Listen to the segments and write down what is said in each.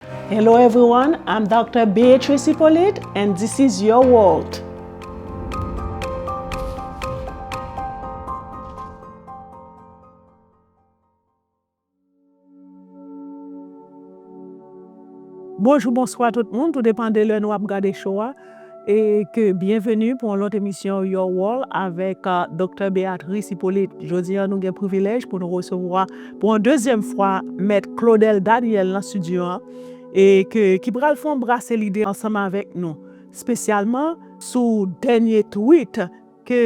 Hello everyone I'm Doctor Beatrice Hyppolite and this is your world. Bonjou bonswa tout moun tou depan de lè nou ap gade cho a. E ke byenveni pou yon lòt emisyon Your World avèk Doktè Béatrice Hyppolite. Jodi an nou gen privilèj pou nou resevwa pou yon dezyèm fwa Mèt Claudel Daniel nan studio an e ke ki pral fè yon brase lide ansanm avèk nou spesyalman sou dènye tweet ke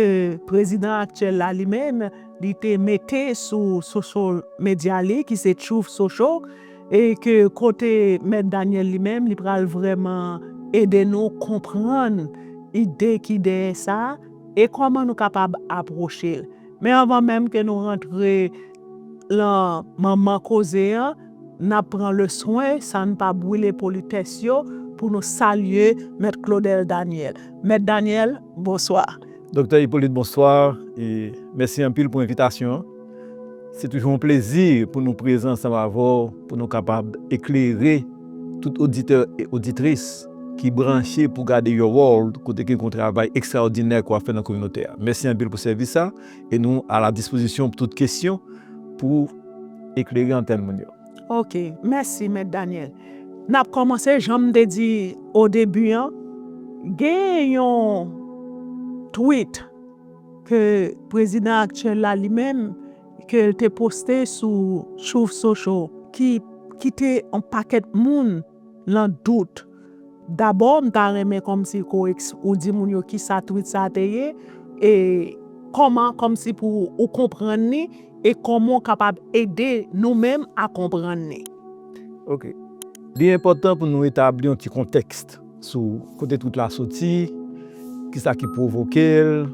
prezidan aktyèl la li menm li te mete sou social media li ki se Truth Social e ke kote Mèt Daniel li menm li pral vrèman ede nou konprann ide ki dèyè sa e kòman nou kapab apwoche l. Men anvan menm ke nou rantre lan manman koze an, N ap pran leswen sa n pa bwile politès yo pou nou salye Mèt Claudel Daniel. Mèt Daniel, bonswa. Doktè Hyppolite, bonswa e mèsi anpil pou envitasyon an. Se toujou yon plezi pou nou prezan ansanm avè w pou nou kapab eklere tout oditè e oditris ki branche pou gade Your World kote gen yon travay ekstraòdinè ke w ap fè nan kominote a. Mèsi anpil pou sèvis sa. E nou a la dispozisyon pou tout kesyon pou eklere antèn moun yo. Ok, mèsi Mèt Daniel. N ap kòmanse jan m te di odebi an, gen yon tweet ke prezidan aktyèl la li menm ke l te poste sou Truth Social ki kite yon pakèt moun. Lan dout. Dabò m ta renmen kòmsi koeks ou di moun yo kisa twit sa te ye e kòman kòmsi pou ou konprann li e kòman w kapab ede nou menm a konprann li. Ok. Li enpòtan pou nou etabli yon ti kontèks sou kote twit la soti, kisa ki pwovoke l,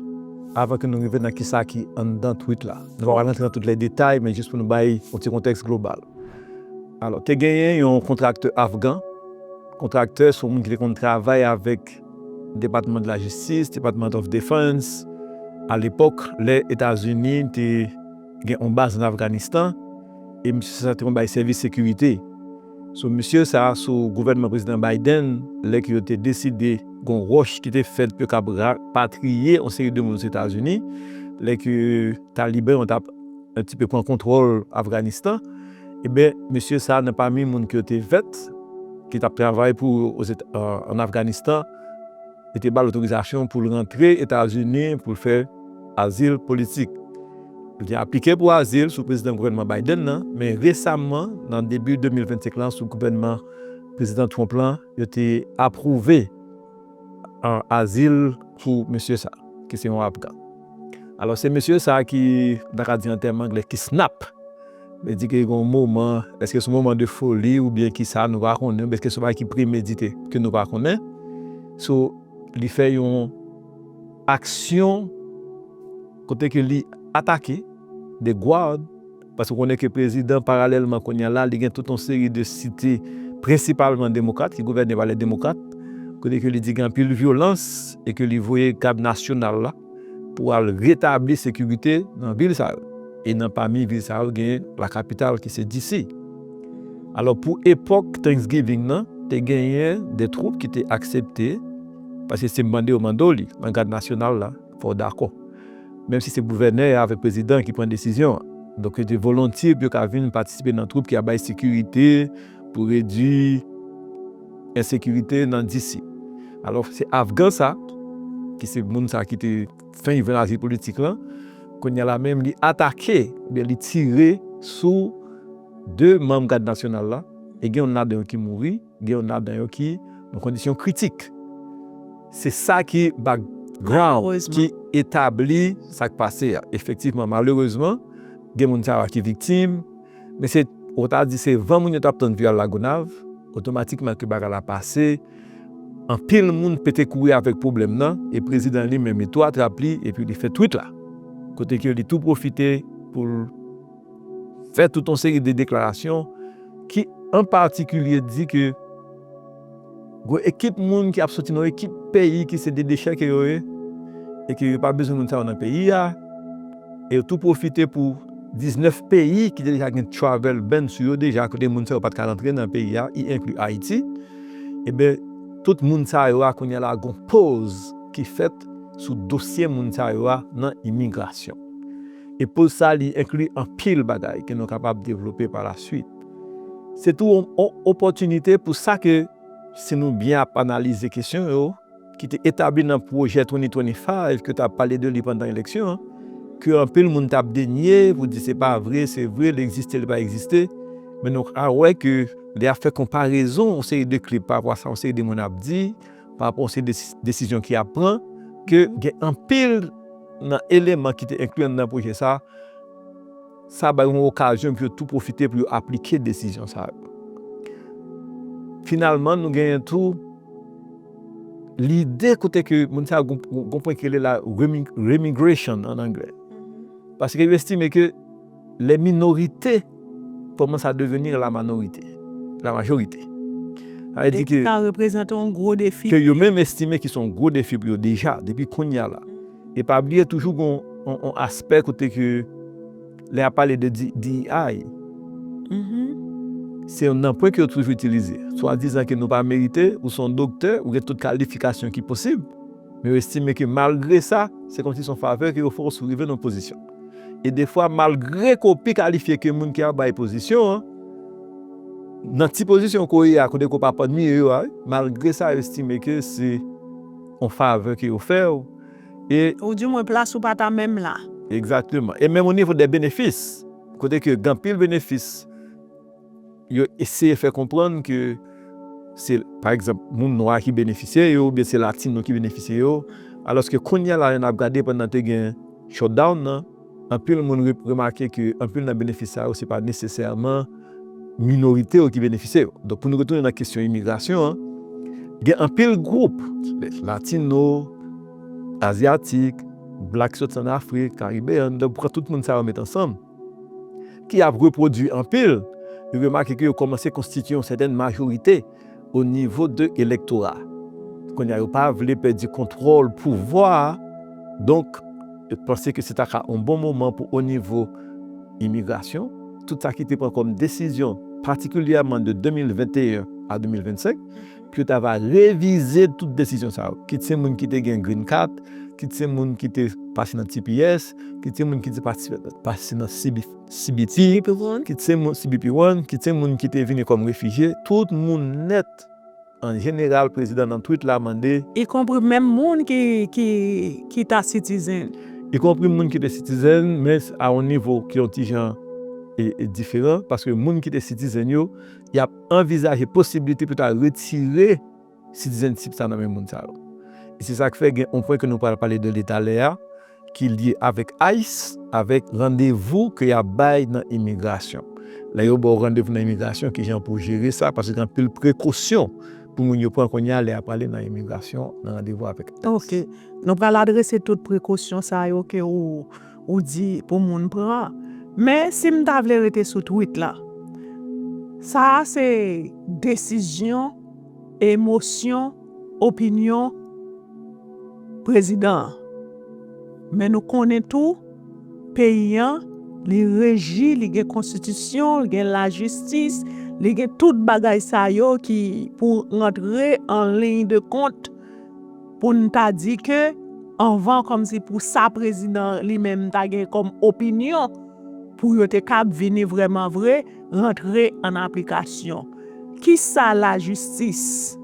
avan ke nou rive nan kisa ki anndan twit la. Nou pa pral rantre nan tout lè detay men jis pou nou bay yon ti kontèks global. Alò, te genyen yon kontraktè afgan, kontraktè se yon moun ki te konn travay avèk Department de la Justice, Department of Defense, a lepòk lè Etazini te gen yon baz an Afganistan, e misye sa te konn bay sèvis sekirite. So misye sa sou gouvènman Prezidan Biden lè ke yo te deside gen yon ròch ki te fèt pou yo kab rapatriye yon seri de moun Ozetazini lè ke Taliban yo tap yon ti pe pran kontwòl Afganistan, eben mesye sa nan pami moun ke yo te vèt ki tap travay pou an Afganistan, yo te bal otorizasyon poul rantre Etazini poul fè azil politik. Li te aplike pou azil sou prezidan gouvènman Biden nan, men resamman nan debi 2025 lan sou gouvènman prezidan Trump lan yo te apwouve azil pou mesye sa ki se yon Afgan. Alò se mesye sa ki, m ta ka di an tèm angle, ki snap. Vle di ke gen yon moman, èske se yon moman de foli oubyen ki sa, nou pa konnen, oubyen èske se yon bagay ki premedite ke nou pa konnen. So, li fè yon aksyon kote ke li atake de gwòd. Paske w konnen ke prezidan paralèlman kounya la li gen tout yon seri de site prensipalman demokrat ki gouvène pa lè demokrat kote ke li di gen anpil vyolans e ke li voye gad nasyonal la pou al retabli sekirite nan vil sa yo e nan pami vil sa yo gen la kapital ki se DC. Alò pou epòk Thanksgiving nan te genyen de twoup ki te aksepte paske se mande yo mande w li nan gad nasyonal la. fò w dakò. Menm si se gouvènè a avèk prezidan an ki pran desizyon an. Donk yo te volontye pou yo ka vin patisipe nan twoup ki ap bay sekirite pou redui ensekirite nan DC. Alò, se afgan sa, ki se moun sa ki te fenk jwenn azil politik lan, kounye a la menm li atake oubyen li tire sou 2 manm Gad Nasyonal la e gen youn ladan yo ki mouri. Gen youn ladan yo ki nan kondisyon kritik. Se sa ki background ki etabli sa k pase a. Efektivman, malerezman, gen moun sa yo ki viktim, men se, ou ta di se van moun yo t ap tann pou y al Lagonav, otomatikman ke bagay la pase, anpil moun pete kouri avèk pwoblèm nan, e prezidan li menm li tou atrap li, epi li fè tweet la, kote ke li tou pwofite pou l. fè tout yon seri de deklarasyon ki an patikilye di ke gwo ekip moun ki ap soti nan yon ekip peyi ki se de dechèke yo ye e ke yo pa bezwen moun sa yo nan peyi a e yo tou pwofite pou 19 peyi ki te deja gen travel ban sou yo deja kote moun sa yo pa t ka rantre nan peyi a i enkli Ayiti eben tout moun sa yo a kounye a la gwo poz ki fèt sou dosye moun sa yo a nan imigrasyon. E poz sa li enkli anpil bagay ke nou kapab devlope pa lasuit. Se tou yon opòtinite pou sa ke, si nou byen ap analize kesyon yo, ki te etabli nan pwojè 2025 ke ta pale de li pandan eleksyon an, ke anpil moun tap denye pou di se pa vre, se vre, li egziste, li pa egziste, men nou ka wè ke lè yap fè konparezon yon seri de klip pa rapò a sa yon seri de moun ap di, parapò yon seri desizyon ki ap pran, ke gen anpil nan eleman ki te enkli anndan pwojè sa a, sa bay yon okazyon pou yo tou pwofite pou yo aplike desizyon sa yo. Finalman, nou genyen tou lide kote ke moun sa yo gon pwen ki rele la remigration an anglè, paske yo estime ke, Les minorités commencent à devenir la manorité, la majorité. Sa vle di ke. Sa reprezante yon gwo defi. Ke yo menm estime ki se yon gwo defi pou yo deja, depi kounye a la. E pa bliye toujou gen yon aspè kote ke lè y ap pale de DEI, se yon nanpwen ke yo toujou itilize. Swadizan ke nou pa merite, ou se yon doktè, ou gen tout kalifikasyon ki posib, men yo estime ke malgre sa, se kòmsi se yon favè ke yo fè w si w rive nan yon pozisyon. E defwa malgre ke w pi kalifye ke moun ki ap bay pozisyon an, nan ti pozisyon ke w ye a, kote ke w pa pami yo a, malgre sa yo estime ke se yon favè ke yo fè w, e. Ou di mwen plas ou pa ta menm la. Egzakteman. E menm onivo dè benefis, kote ke gen anpil benefis yo eseye fè konprann ke se, pa egzanp, moun nwa ki benefisye yo oubyen se latino ki benefisye yo. Alòske kounye a la, lè n ap gade pandan te gen shutdown nan, anpil moun remake ke anpil nan benefis sa yo se pa nesesèman minorite yo ki benefisye yo. Donk, pou nou retounen nan kesyon imigrasyon an, gen anpil gwoup, latino, azyatik, blak ki soti an Afrik, karibeyann, lè ou pran tout moun sa yo mete ansanm, ki ap repwodui anpil, li remake ke yo kòmanse konstitye yon sètèn majorite o nivo de elektora. Kounye a yo pa vle pèdi kontwòl pouvwa a, donk yo panse ke se ta ka yon bon moman pou o nivo imigrasyon, tout sa ki te pran kòm desizyon patikilyèman de 2021 a 2025, pou yo ta va revize tout desizyon sa yo, kit se moun ki te gen green card, kit se moun ki te pase nan tps, kit se moun ki te pase nan cbp, kit se moun cbp one, kit se moun ki te vini kòm refijye, tout moun nèt an jeneral prezidan nan tweet la mande. Y konpri menm moun ki ta citizen. Y konpri moun ki te citizen men a yon nivo ki yon ti jan diferan paske moun ki te citizen yo Y ap anvizaje posiblite pou ta retire citizenship sa nan men moun sa yo. E se sa k fè gen yon pwen ke nou pral pale de li talè a, ki lye avèk ice, avèk randevou ke y ap bay nan imigrasyon. Lè yo ba w randevou nan imigrasyon, ki jan pou w jere sa, paske gen anpil prekosyon pou moun yo pran kounye a lè y ap ale nan imigrasyon, nan randevou avèk ice. Ok. Nou pral adrese tout prekosyon sa yo ke ou. ou di pou moun pran men si m ta vle rete sou tweet la sa a se desizyon emosyon opinyon prezidan an men nou konnen tou peyi an li reji li gen konstitisyon li gen lajistis li gen tout bagay sa yo ki pou rantre an liy de kont. pou n ta di ke anvan kòmsi pou sa prezidan li menm ta gen kòm opinyon pou yo te kab vini vrèman vre rantre an aplikasyon. Kisa lajistis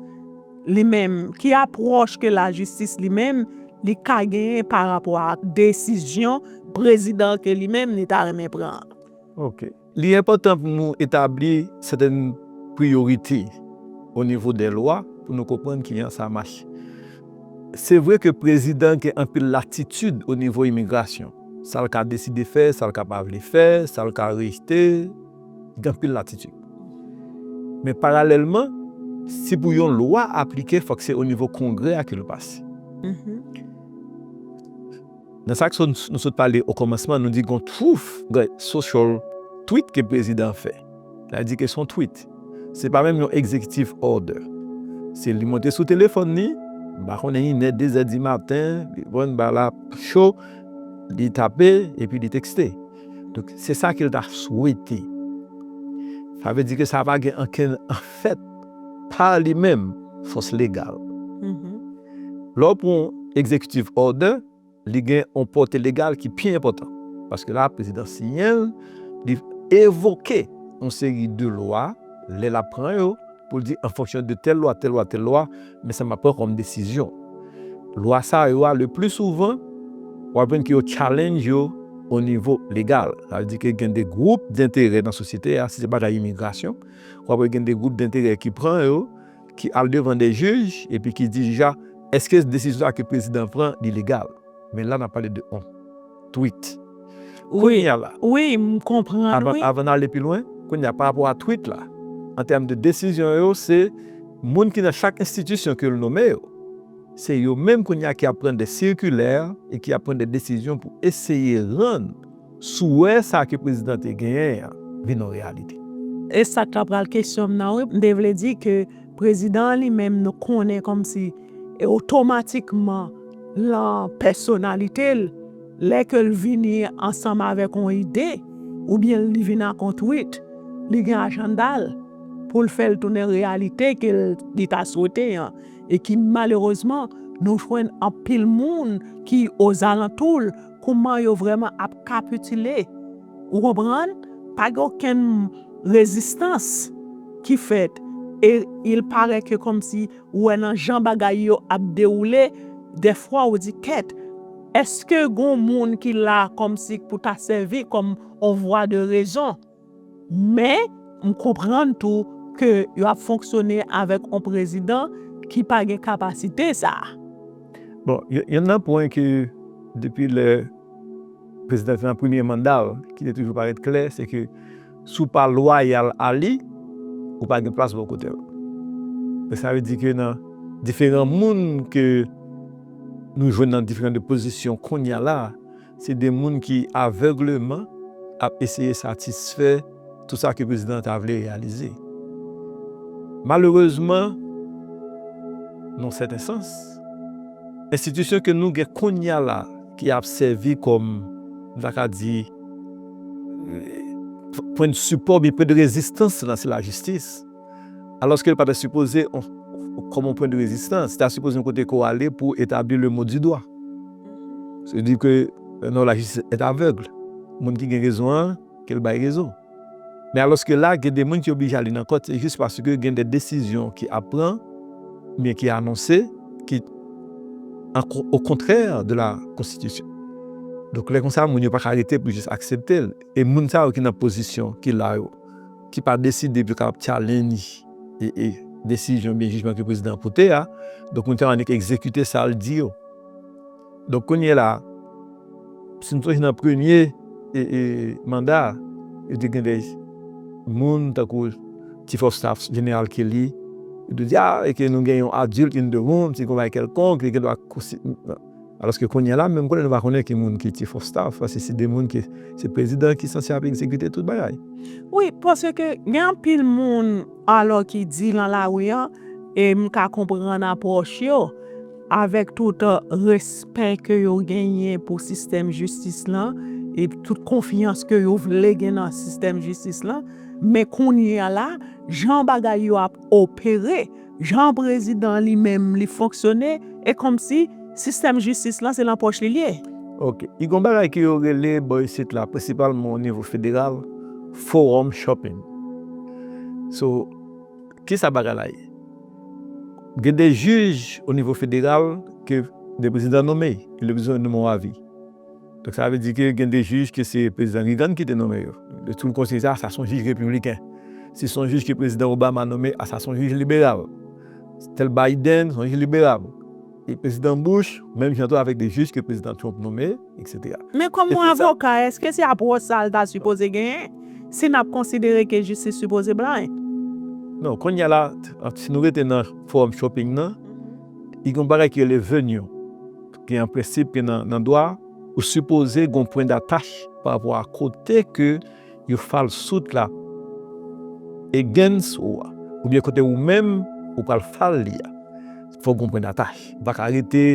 li menm, ki apwòch ke lajistis li menm li ka genyen pa rapò ak desizyon prezidan ke li menm li ta renmen pran an? Ok. Li enpòtan pou nou etabli sèten priyorite o nivo dè lwa pou nou konprann ki jan sa mache. Se vre ke prezidan gen anpil latitid o nivo imigrasyon, sa l ka deside fè, sa l ka pa vle fè, sa l ka rejte, li gen anpil latitid. Men paralèlman, si pou yon lwa aplike fòk se o nivo kongrè a ke l pase. Nan sa k so nou sot pale okòmansman, nou di gon twouth gen social tweet ke prezidan an fè. Nan di ke son tweet. Se pa menm yon executive order. Se li monte sou telefòn li, m pa konnen inè, dezè di maten, li konn ba la cho, li tape epi li tekste. Donk se sa ke l ta swete. Sa vle di ke sa pa gen ankenn efè. pa li menm fòs legal. Lè w pran yon Executive Order, li gen yon pòte legal ki pi enpòtan. Paske la, prezidan siyen l, li evoke yon seri de lwa, lè l ap pran yo, pou l di an fonksyon de tèl lwa, tèl lwa, tèl lwa, men sa m ap pran kòm desizyon. Lwa sa yo a, le pli souvan, w ap jwenn ke yo challenge yo o nivo legal. Sa vle di ke gen de gwoup denterè nan sosyete a, si se bagay imigrasyon, w ap wè gen de gwoup denterè ki pran yo, ki al devan de jij, epi ki di jij la, èske desizyon sa a ke prezidan an pran li legal? Men la n ap pale de yon tweet. Kounye a la, avan n ale pi lwen, kounye a, parapò a tweet la, an tèm de desizyon yo, se moun ki nan chak enstitisyon ke l nome yo, se yo menm kounye a ki ap pran de sikilè e ki ap pran de desizyon pou eseye rann. Souwè sa ke prezidan te genyen an vin yon reyalite. E sa ka pral kesyon m nan wi, m te vle di ke prezidan an li menm nou konnen kòmsi e otomatikman lan pèsonalite l, lè ke l vini ansanm avèk yon ide oubyen li vin ak yon tweet, li gen ajanda l pou l fè l tounen reyalite ke li ta swete an e ki malerezman nou jwenn anpil moun ki ozalantou l. Kouman yo vrèman ap kapitile. Ou konprann? Pa gen okenn rezistans ki fèt. E il parait ke kòmsi ou wè nan jan bagay yo ap dewoule, dèfwa ou di kèt, èske gon moun ki la kòmsi pou ta sèvi kòm on vwa de rezon? Men, m konprann tou ke yo ap fonksyone avèk yon prezidan ki pa gen kapasite sa a. Bon, yonn nan pwen ke depi lè prezidan te nan premye manda l ki te toujou parèt klè, se ke si w pa lwayal a li, ou pa gen plas bò kote l. Donk sa vle di ke nan diferan moun ke nou jwenn nan diferan de pozisyon kounye a la a, Se de moun ki avègleman ap eseye satisfè tout sa ke prezidan an ta vle reyalize. Malerezman, nan sèten sans, enstitisyon ke nou gen kounye a la ki ap sèvi kòm, m ta ka di, pwen de sipò oubyen pwen de rezistans la, se lajistis. Alòske l pa ta sipoze kòm yon pwen de rezistans, ta sipoze yon kote ke w ale pou w etabli le mot du doigt. Se di ke non la justice est aveugle. Moun ki gen rezon an, ke l bay rezon. Men alòske la gen de moun ki oblije ale nan kòt se jis paske gen de desizyon ki ap pran oubyen ki anonse ki o kontrè de la konstitisyon. Donk lè konsa moun yo pa ka rete pou jis aksepte l. E moun sa yo ki nan pozisyon ki la yo. ki pa deside pou yo kapab tyalenj desizyon oubyen jijman ke prezidan an pote a, donk moun sa yo annik egzekite sa l di yo. Donk kounye la, si nou sonje nan premye manda a, yo te gen de moun tankou Chief of Staff Jeneral Kelly, yo te di a, e ke nou gen yon adilt in the room, se yon bagay kèlkonk, li gen dwa Alòske kounye a la, menm konnen nou pa konnen ki moun ki chief of staff, paske se 2 moun ki, se prezidan ki sanse ap egzekite tout bagay. Wi, paske gen anpil moun alò ki di lan lari an, e m ka konprann apwòch yo, avèk tout respè ke yo genyen pou sistèm jistis lan, e tout konfyans ke yo vle gen nan sistèm jistis lan, men kounye a la, jan bagay yo ap opere, Jan prezidan li menm li fonksyone e kòmsi sistèm jistis lan se lan pòch li l ye. Ok i gon bagay ke yo rele bò isit la prensipalman o nivo federal forum shopping so kisa bagay la ye gen de jij o nivo federal ke de prezidan nome e li bezwen nome yon avi Donk sa vle di ke gen de jij ke se Prezidan Reagan ki te nome yo. Yo toujou konsidere sa, sa son jij repibliken. Si son jij ke Prezidan Obama nome, a sa son jij liberal. Tel Biden, son jij liberal. E Prezidan Bush, menm jan tou avèk de jij ke Prezidan Trump nome, etc. Men kòm yon avoka, eske se apwòch sa l ta sipoze genyen, si n ap konsidere ke jistis sipoze blank? Non, kounye a la, si nou rete nan fòm shopping nan, li gen yon bagay ki rele venue. Gen yon prensip ke nan dwa, ou sipoze gen yon pwen datach pa rapò a kote ke yon fal sout la against ou a, oubyen kote ou menm ou pral fal li a. Fòk gen yon pwen datach. Ou pa ka rete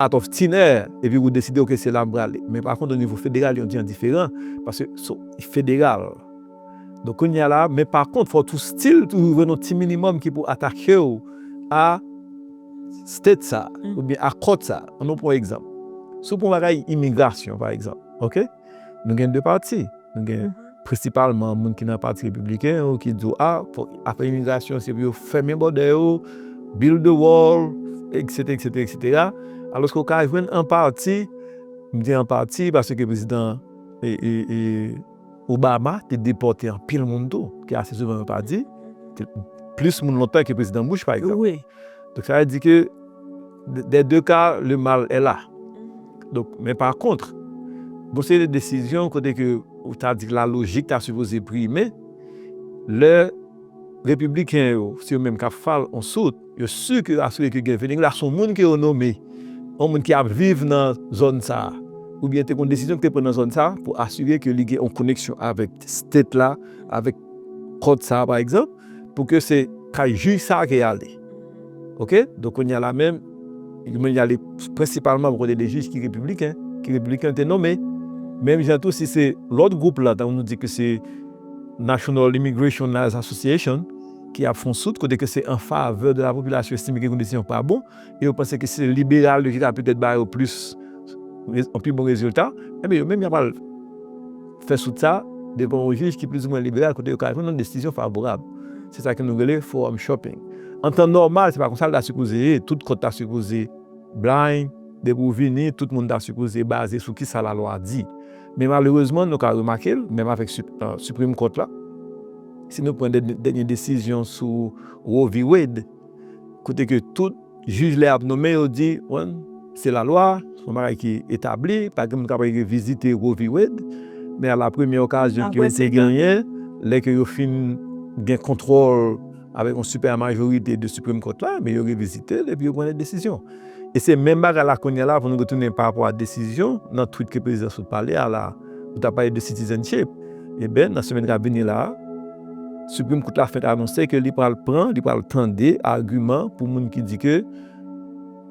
out of thin air epi ou deside ok se la m prale. Men pa kont o nivo federal yon jan diferan paske federal. Donk kounye a la, men pa kont fò tou stil toujou jwenn yon ti minimòm ki pou atake w a state sa a oubyen a court sa a. An nou pran egzanp. Si w pran bagay imigrasyon pa egzanp, ok? Nou gen 2 pati. Nou gen prensipalman moun ki nan pati repibliken yo ki di w a fòk afè imigrasyon se pou yo fèmen bòdè yo, build the wall, eksete, eksete, eksetera. Alòske w ka jwenn an pati, m di an pati paske prezidan e, e, e. Obama te depòte anpil moun tou, ke ase souvan yo pa di, plis moun lontan ke Prezidan Bush, pa egzanp. Donk, sa vle di ke, dè deu ka, le mal è la. Donk, men pa kontr, g'on seri de desizyon kote ke ou ta di la lojik ta sipoze prime, lè Repibliken yo, se yo menm k'ap fal on sout, Yo si ke asire ke Guy Philippe la se yon moun ke yo nome, yon moun ki ap viv nan zòn sa a, oubyen te gon desizyon ki te pran nan zòn sa a pou asire ke li gen yon koneksyon avèk state la, avèk kòt sa a pa egzanp, pou ke se kay jij sa a ke y ale. Oke? Donk kounye a la menm, li menm li ale prensipalman bò kote de jij ki repibliken, ke repibliken te nome. Menm jan tou si se lòt gwoup la, tankou nou di ke se National Immigration Lawyers Association, ki ap fon sout kote ke se an favè de la popilasyon yo estime ke kondisyon yo pa bon e yo panse ke se liberal yo ki ka petèt ba yo plis yon pi bon rezilta enben yo menm ya pral fè sout sa devan yon jij ki plizoumwen liberal kote yo ka jwenn yon desizyon favorab se sa ke nou rele forum shopping an tan nòmal se pa konsa l ta sipoze ye tout kòt ta sipoze blind depi ou vini tout moun ta sipoze baze sou kisa lalwa di. Men malerezman nou ka remake l, menm avèk Supreme Court la, si nou pran dènye desizyon sou Roe v. Wade, kote ke tout jij lè y ap nonmen yo di, bon, se lalwa, se yon bagay ki etabli, pa gen moun k'ap al revizite Roe v. Wade, men a la premyè okazyon ke yo te genyen, lè ke yo fin gen kontwòl. Avèk yon sipè majorite de Supreme Court la, ebyen yo revizite l epi yo pran de desizyon. E se menm bagay la kounye a la pou nou retounen pa rapò a desizyon nan tweet ke prezidan sot pale a la, ou ta pale de citizenship, eben nan semèn kap vini la, Supreme Court la fenk anonse ke li pral pran, li pral tande agiman pou moun ki di ke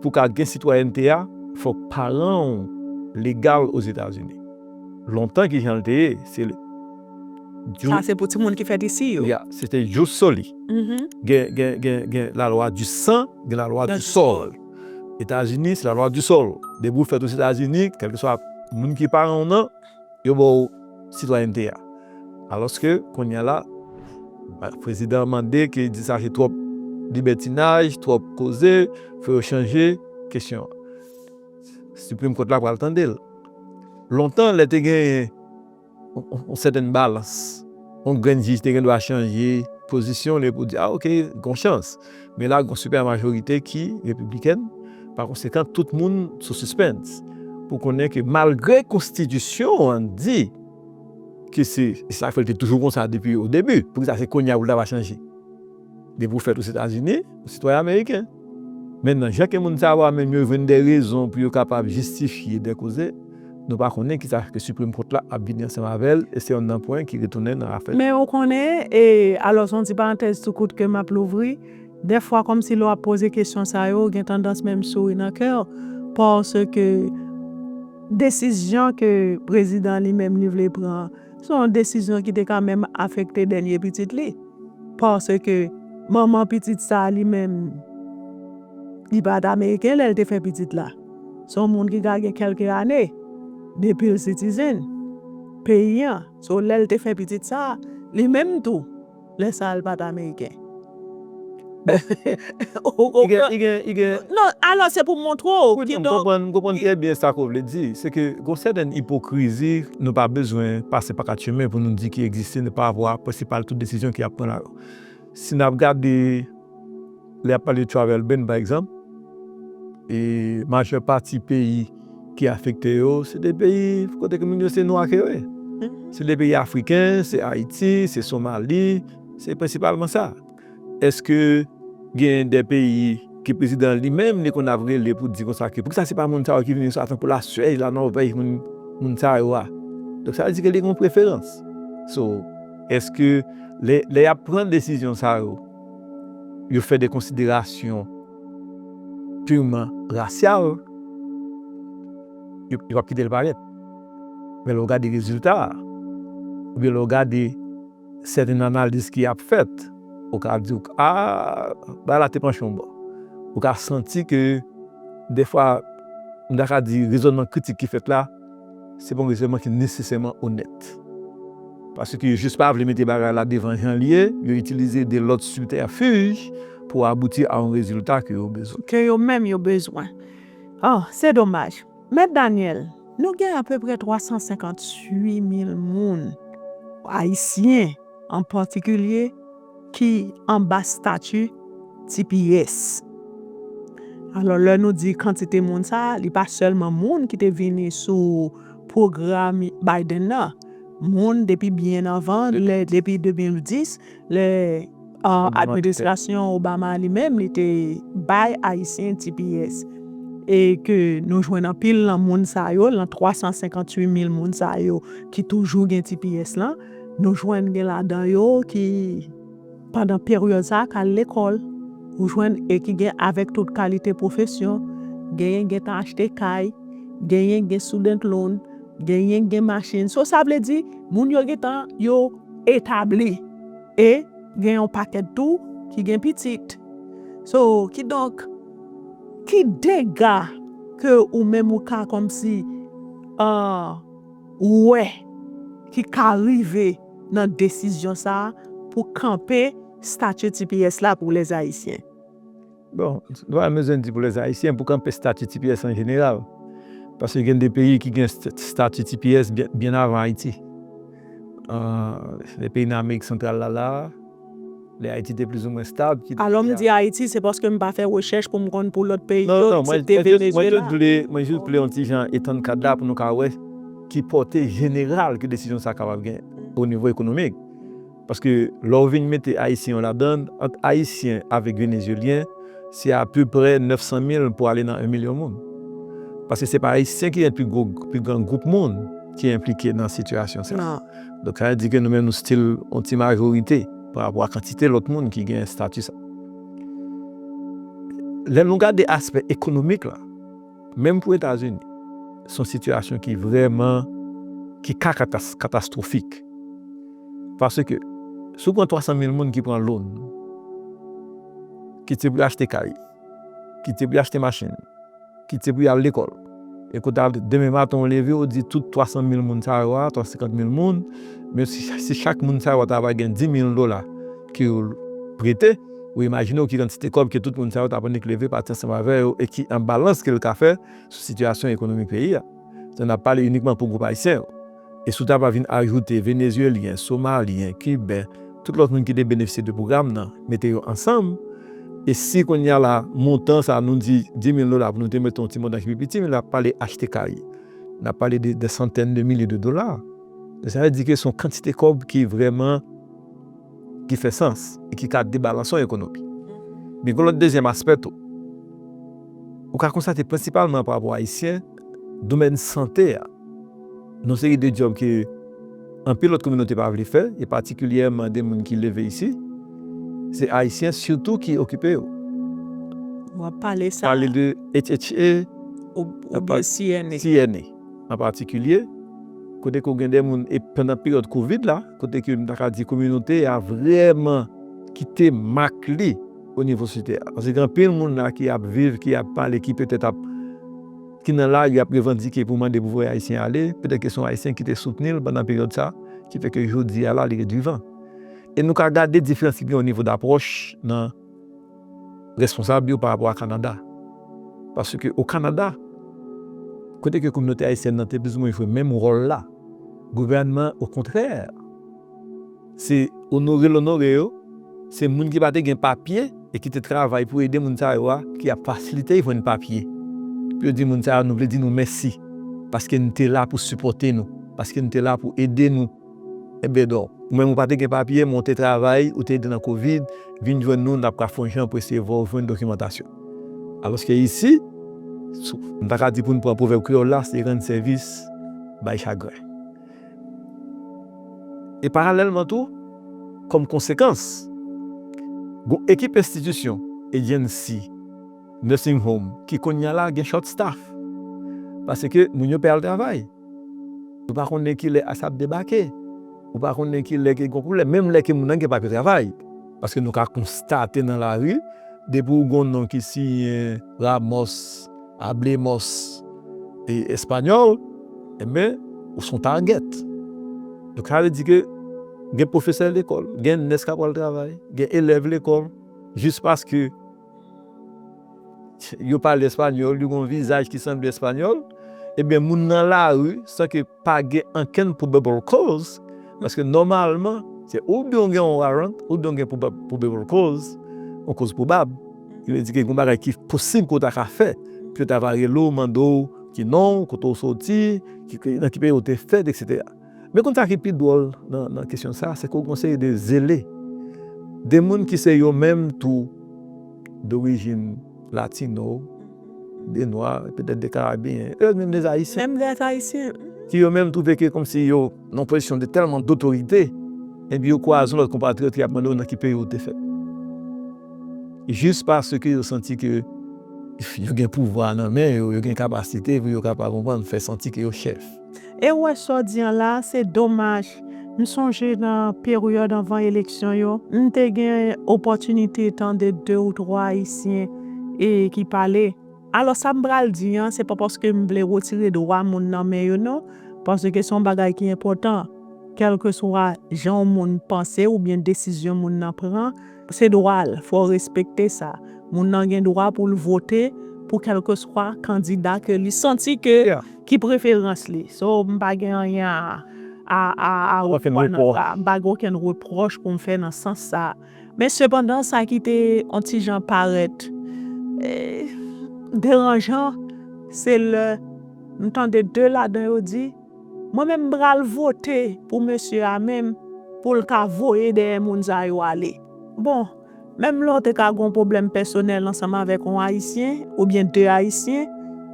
pou w ka gen sitwayènte a, fòk paran w legal Ozetazini. Lontan kijan l te ye? Sa se pou timoun ki fèt isi yo. Yeah, se te jous soli. Gen la lwa di san, gen la lwa di sòl. Etazini se la lwa di sòl. Depi ou fèt Ozetazini, kèlkeswa moun ki paran ou nan, yo ba ou sitwayènte a. Alòske, kounye a la, prezidan an mande ke di sa se twòp libètinaj, twòp koze, fò yo chanje kesyon an. Siprim Kòt la pral tande l. Lontan, lè te genyen. yon sèten balans. Yon grenn jij te gen dwa chanje pozisyon li pou di, a ok, gon chans. Men la gon sipè majorite ki repiblikèn, pa konsekan tout moun sou sispens pou konnen ke malgre konstitisyon an di ke se sa k fè l te toujou konsa depi o debi, poukisa se kounye a pou l ta va chanje? Depi w fèt Ozetazini, ou sitwayen ameriken. Men nan jan ke moun sa yo a menm yo jwenn de rezon pou yo kapab jistifye de koze, nou pa konnen ki sa ke Supreme Court la ap vini ansanm avè l e se yon nanpwen ki retounen nan afè. Men ou konnen, e alòs yon ti parantèz tou kout ke m ap louvri, dèfwa kòmsi lè w ap poze kesyon sa yo, ou gen tandans menm souri nan kè w, paske desizyon ke prezidan li menm li vle pran an, Se yon desizyon ki te ka menm afekte dènye pitit li. Paske manman pitit sa a li menm, li pa t ameriken lè l te fè pitit la. Se yon moun ki ka gen kèlke ane depi l sitizen peyi an. So lè l te fè pitit sa a, li menm tou. Lè sa a l pa t ameriken. Ou konprann? Non, alò se pou m montre w. Koute m, m konprann trè byen sa ke w vle di. Se ke gen yon sèten ipokrizi nou pa bezwen pase pa kat chemen pou nou di ki egziste nan pa vwa prensipal tout desizyon ki ap pran la yo. Si n ap gade. Lè y ap pale de travel ban pa egzanp, e majè pati peyi ki afekte yo se de peyi kote ke moun yo se nwa ke yo ye. Se de peyi afriken, se Ayiti, se Somali, se prensipalman sa. Eske gen de peyi ke prezidan li menm li konn ap rele pou di konsa ke poukisa se pa moun sa yo ki vini sa tankou Laswèj, Lanòvèj, moun sa yo a. Donk sa vle di ke li gen yon preferans. So, eske lè y ap pran desizyon sa yo. yo fè de konsiderasyon pirman rasyal, yo pa p kite l parèt. Men lè w gade rezilta a, oubyen lè w gade sèten analiz ki ap fèt, ou ka di ke a, bagay la te panche yon bò. Ou ka santi ke dèfwa, m ta ka di rezònman kritik ki fèt la, se pa yon rezènman ki nesesèman onèt. Paske yo jis pa vle mete bagay la devan jan l ye, yo itilize de lòt sibtèfij pou abouti a yon rezilta ke yo bezwen. Ke yo menm yo bezwen. O, se domaj. Mèt Daniel, nou gen apeprè 358 mil moun, Ayisyen an patikilye, ki anba stati tps. Alò lè nou di kantite moun sa a, li pa sèlman moun ki te vini sou pwogram Biden nan. Moun depi byen anvan, depi 2010, lè administrasyon Obama a li menm li te bay Ayisyen tps. E ke nou jwenn anpil nan moun sa yo, nan 358 mil moun sa yo ki toujou gen tps lan. Nou jwenn gen ladan yo ki pandan peryòd sa a k al lekòl, ou jwenn e ki gen avèk tout kalite pwofesyon, genyen k gentan achte kay, genyen k gen student loan, genyen k gen machin, so sa vle di moun yo gentan yo etabli e gen yon pakèt tou ki gen pitit. So kidonk ki dega ke ou menm ou ka kòmsi an. ou wè ki ka rive nan desizyon sa pou kanpe stati tps la pou lè ayisyen? Bon, nou pa bezwen di pou lè ayisyen, pou kanpe stati tps an jeneral. Paske gen de peyi ki gen stati tps byen avan Ayiti. Lè peyi nan amerik santral la la. Lè Ayiti te plizoumwen stab. Alò m di Ayiti se paske m pa fè rechèch pou m konn pou lòt peyi yo eksepte Venezuela. Mwen jis vle yon ti jan etann kad la pou nou ka wè ki pòte jeneral ke desizyon sa kapab gen o nivo ekonomik. Paske lè w vin mete Ayisyen yo ladann, ant Ayisyen avèk Venezyelyen se apeprè 900 mil pou ale nan 1 milyon moun. Paske se pa Ayisyen ki gen pi gran gwoup moun ki enplike nan sitiyasyon sa. Donk sa vle di ke nou menm nou still yon ti majorite pa rapò a kantite lòt moun ki gen estati sa. Lè nou gade aspè ekonomik la, menm pou Etazini, se yon sitiyasyon ki vrèman, ki ka katastwofik. Paske, si w pran 300 mil moun ki pran loan, ki te vle achte kay, ki te vle achte machin, kit se pou y al lekòl. E kou ta demen maten ou leve ou di tout 300 mil moun sa yo a, 350 mil moun, menm si chak moun sa yo ta va gen 10 mil dola ke yo prete, ou imajine w ki kantite kòb ke tout moun sa yo ta annik leve pati ansanm avè yo e ki enbalans ke l ka fè sou sitiyasyon ekonomik peyi a. N ap pale inikman pou gwoup ayisyen yo. E si w ta va vin ajoute Venezyelyen, Somalyen, Kiben, tout lòt moun ki te benefisye de pwogram nan, mete yo ansanm, e si kounye a la montan sa a nou di dimil dola pou nou te mete yon ti montan ki pi piti, men n ap pale achte kay, n ap pale de dè santèn de milye de dola. Donk sa vle di ke se yon kantite kòb ki vrèman ki fè sans e ki ka debalanse yon ekonomi. Men gen yon lòt dezyèm aspè tou. Ou ka konstate prensipalman parapò Ayisyen. domèn sante a, yon seri de djòb ke anpil lòt kominote pa vle fè, e patikilyèman de moun ki leve isi, se Ayisyen sitou ki okipe yo. W ap pale sa. Pale de HHA. Oubyen CNA. CNA an patikilye, kote ke w gen de moun, e pandan peryòd kovid la, kote ke m ta ka di kominote a vrèman kite mak li. o nivo si tè a. Paske gen anpil moun la ki ap viv, ki ap pale, ki petèt ap, ki nan lari ap revandike pou mande pou voye Ayisyen ale, petèt ke se yon Ayisyen ki te soutni l pandan peryòd sa, ki fè ke jodi a la li ret vivan. E nou ka gade diferans ki gen o nivo dapwòch nan responsab yo pa rapò a Kanada. Paske o Kanada, kote ke kominote Ayisyèn nan te plizoumwen jwe menm wòl la, gouvènman o kontrè, Se onore l onore yo, se moun ki pa te gen papye e ki te travay pou ede moun sa yo a ki ap fasilite y jwenn papye. Pou yo di moun sa yo nou vle di nou mèsi paske nou te la pou sipòte nou, paske nou te la pou ede nou. Enbedon, ou menm ou pa te gen papye men ou te travay, ou te ede nan kovid, vin jwenn nou n ap ka fon jan pou eseye vè w jwenn dokimantasyon. Alòske isi, m ta ka di pou n pran pwovèb kreyòl la se rann sèvis bay chagren. E paralèlman tou, kòm konsekans, gon ekip enstitisyon, agency, nursing home ki kounya la gen short staff paske moun yo pè al travay. Ou pa konnen ki lè asa ap debake, ou pa konnen ki lè ki gon pwoblèm, menm lè ke moun nan gen papye travay. Paske nou ka konstate nan lari, depi ou gon non ki siyen Ramos, Hablemos español Enben, ou son target. Donk sa vle di ke gen pwofesè lekòl, gen nès kap al travay, gen elèv lekòl, jis paske yo pale español, yo gen yon vizaj ki sanble español, enben moun nan lari san ke. pa gen ankenn probable cause, paske nòmalman se oubyen ou gen yon warrant oubyen ou gen probable cause, yon koz pwobab, ki vle di gen yon bagay ki posib ke w ta ka fè, ke yo ta va rele w, mande w ki non w, kote w soti, nan ki peyi ou te fèt, eksetera. Men konn sa ki pi dwòl nan kesyon sa, se ke w gen yon seri de zele, de moun ki se yo menm tou dorijin. latino, de nwa, petèt de karabeyen, e menm de ayisyen, ki yo menm twouve ke kòmsi yo nan yon pozisyon de tèlman dotorite, enpi yo kwaze yon lòt konpatriyòt ki ap mande yo nan ki peyi ou te fèt. Jis paske yo santi ke yo gen pouvwa nan men yo, yo gen kapasite pou yo kapab, ou konprann, fè santi ke yo chèf. E ou wè sa w di an la a, se domaj. M sonje nan peryòd anvan eleksyon yo, m te gen opòtinite tande de ou twa Ayisyen ki pale. Alò sa m pral di an, se pa paske m vle retire dwa moun nan men yo non, paske se yon bagay ki enpòtan, kèlkeswa jan yon moun panse oubyen desizyon moun nan pran, Se dwa l, fò w respekte sa. Moun nan gen dwa pou l vote pou kèlkeswa kandida ke li santi ke ki preferans li. So, m pa gen anyen a a repwa nan sa. M pa gen okenn repwòch pou m fè nan sans sa. Men sepandan sa ki te on ti jan parèt deranjan se lè m tande 2 ladan yo di. Mwen menm m pral vote pou mesye a menm pou l ka voye dèyè moun sa yo ale. Bon, menm lè w te ka gen yon pwoblèm pèsonèl ansanm avèk yon Ayisyen oubyen 2 Ayisyen,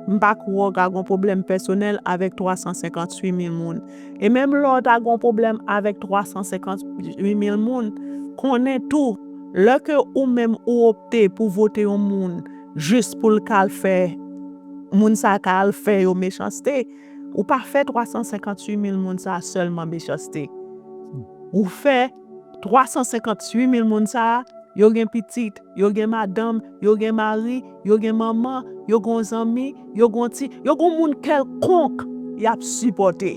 m pa kwè w ka gen yon pwoblèm pèsonèl avèk 358 mil moun. E menm lè w ta gen yon pwoblèm avèk 358 mil moun, konnen tou, lè ke ou menm ou opte pou vote yon moun jis pou l ka al fè moun sa ka al fè yo mechanste, Ou pa fè 358 mil moun sa a sèlman mechanste. Ou fè 358 mil moun sa a, yo gen pitit, yo gen madanm, yo gen mari, yo gen manman, yo gon zanmi, yo gon ti, yo gon moun kèlkonk y ap sipòte.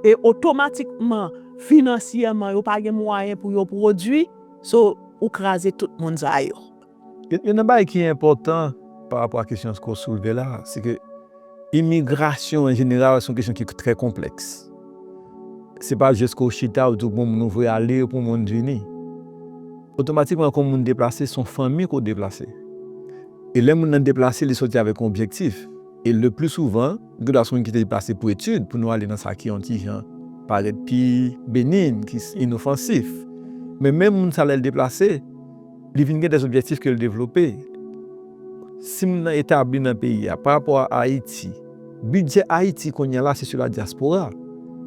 E otomatikman, finansyèman yo pa gen mwayen pou yo pwodui, so ou kraze tout moun sa yo. Youn nan bagay ki enpòtan pa rapò a kesyon ke w soulve la, se ke imigrasyon an jeneral se yon kesyon ki trè konplèks. Se pa jis ke w chita w di w gen yon moun ou vle ale epi yon moun vini. Otomatikman ke yon moun deplase se yon fanmi ke w deplase. E lè moun nan deplase li soti avèk yon objektif. E le pli souvan, li gendwa se yon moun ki te deplase pou etid, pou nou ale nan sa ki yon ti jan parèt pi benign, ki inofansif. Men menm moun sa lè l deplase. Li vin gen des objectifs ke li devlope. Si moun nan etabli nan peyi a, pa rapò a Ayiti, bidjè Ayiti kounye a la se sou la diaspora.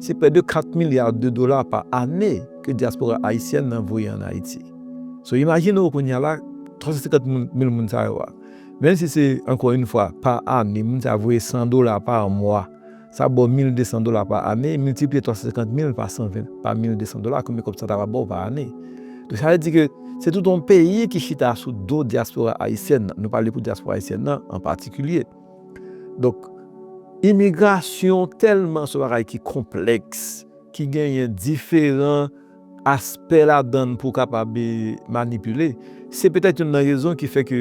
Se près de 4 milliards de dollars pa ane ke diaspora Ayisyèn nan voye an Ayiti. So imajine ou kounye a la 350 moun, mil moun sa yo a. Menm si se ankò in fwa pa ane, moun sa yo voye 100 dollars par mois. sa ba w 1200 dola pa ane, miltipliye 350 mil pa 120 pa 1200 dola konbyen kòb sa ta va ba w pa ane? Donk sa vle di ke se tout yon peyi ki chita sou do dyaspora ayisyèn nan, nou pale pou dyaspora ayisyèn nan an patikilye. Donk imigrasyon tèlman se yon bagay ki konplèks, ki genyen diferan. aspè ladan l pou kapab manipile, se petèt youn nan rezon ki fè ke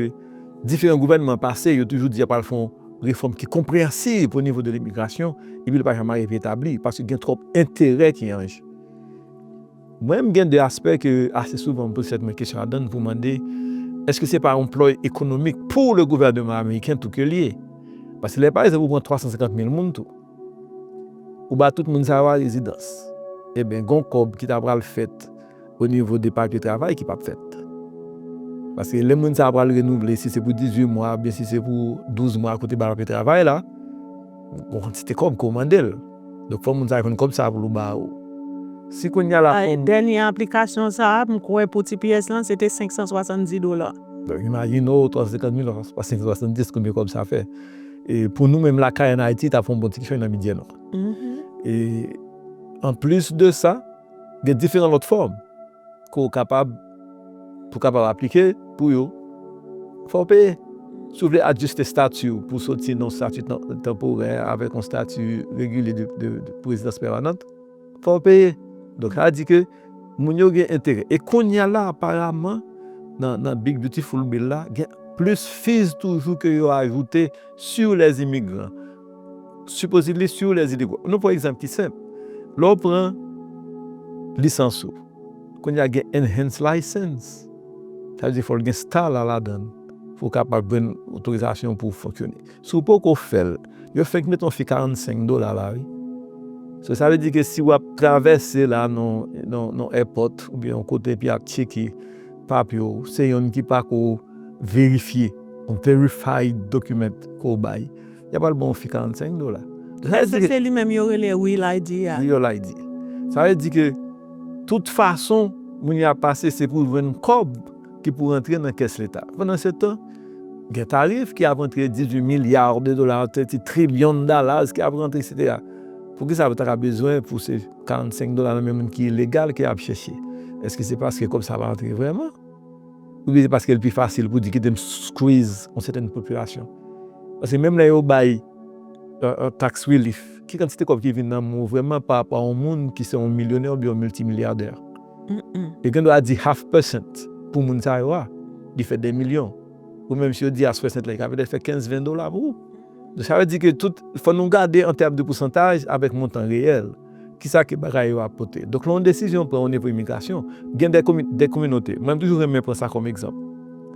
diferan gouvènman pase yo toujou di y ap pral fè yon refòm ki konpreyansiv o nivo de limigrasyon epi li pa janm arive etabli paske gen twòp enterè ki an je. Mwen menm gen de aspè ke ase souvan m poze tèt mwen kesyon ladan l pou mande èske se pa yon ploy ekonomik pou le gouvèneman ameriken tou ke l ye? Paske lè pa egzanp ou pran 350 mil moun tou. Ou ba tout moun sa yo a rezidans. Eben gon kòb ki ta pral fèt o nivo de papye travay ki pap fèt. Paske lè moun sa a pral renouvle si se pou 18 mwa oubyen si se pou 12 mwa kote ba papye travay la, gon kantite kòb ke w mande l. Donk fò moun sa a jwenn kòb sa a pou l ba ou. Si kounya la fò m. Dènye aplikasyon sa a, m kwè pou tps lan se te 570 dola. Donk imajine w 350 mil fwa 570 konbyen kòb sa fè. Pou nou menm lakay an Ayiti, ta fè yon bon ti fen nan midi a non. E anplis de sa, gen diferan lòt fòm ke w kapab, pou kapab aplike pou yo, fò w peye. Si w vle adjiste stati w pou w soti nan yon stati tanporè avèk yon stati regilye pou rezidans pèmanant. Fòw peye. Donk sa vle di ke moun yo gen enterè. E kounya la aparaman nan big beautiful bill la gen plis fees toujou ke yo ajoute sur les immigrants. Supposedly sur les illegaux. Nou pran yon egzanp ki senp. Lè w pran lisans ou. Kounya gen enhanced license. Sa vle di fòl gen star la ladann pou w kapab jwenn otorizasyon pou w fonksyone. Si w poko fè l, yo fenk met yon fi 45 dola la wi. So sa vle di ke si w ap travèse la nan èpòt oubyen yon kote epi y ap tcheke papye w, se yonn ki pako verifye, yon verified document ke w bay, y a pral ban w fi 45 dola. Sa se se li menm yo rele Real ID a? Real ID. Sa vle di ke tout fason moun yo ap pase se pou jwenn kòb. ki pou rantre nan kès leta. Pandansetan, gen tarif ki ap antre, 18 milliards de dollars, 30 trillion dollars ki ap rantre, eksetera. Poukisa yo ta ka bezwen pou se 45 dola nan men moun ki ilegal ke y ap chèche? Èske se paske kòb sa ap rantre vrèman? Oubyen se paske l pi fasil pou di kite m squeeze yon sèten popilasyon? Paske menm lè yo bay tax relief, ki kantite kòb ki vin nan men w vrèman parapò a yon moun ki se yon milyonè oubyen yon miltimilyadè? Yo gen dwa di half percent pou moun sa yo a, li fè 2 milyon. Ou menm si yo di half percent la, li ka petèt fè 15, 20 dola pou ou. Donk sa vle di ke tout, fò nou gade an tèm de pousantaj avèk montan reyèl, kisa ke bagay yo ap pote. Donk lè yon desizyon pran o nivo imigrasyon, gen dè komi, dè kominote, mwen m toujou renmen pran sa kòm egzanp.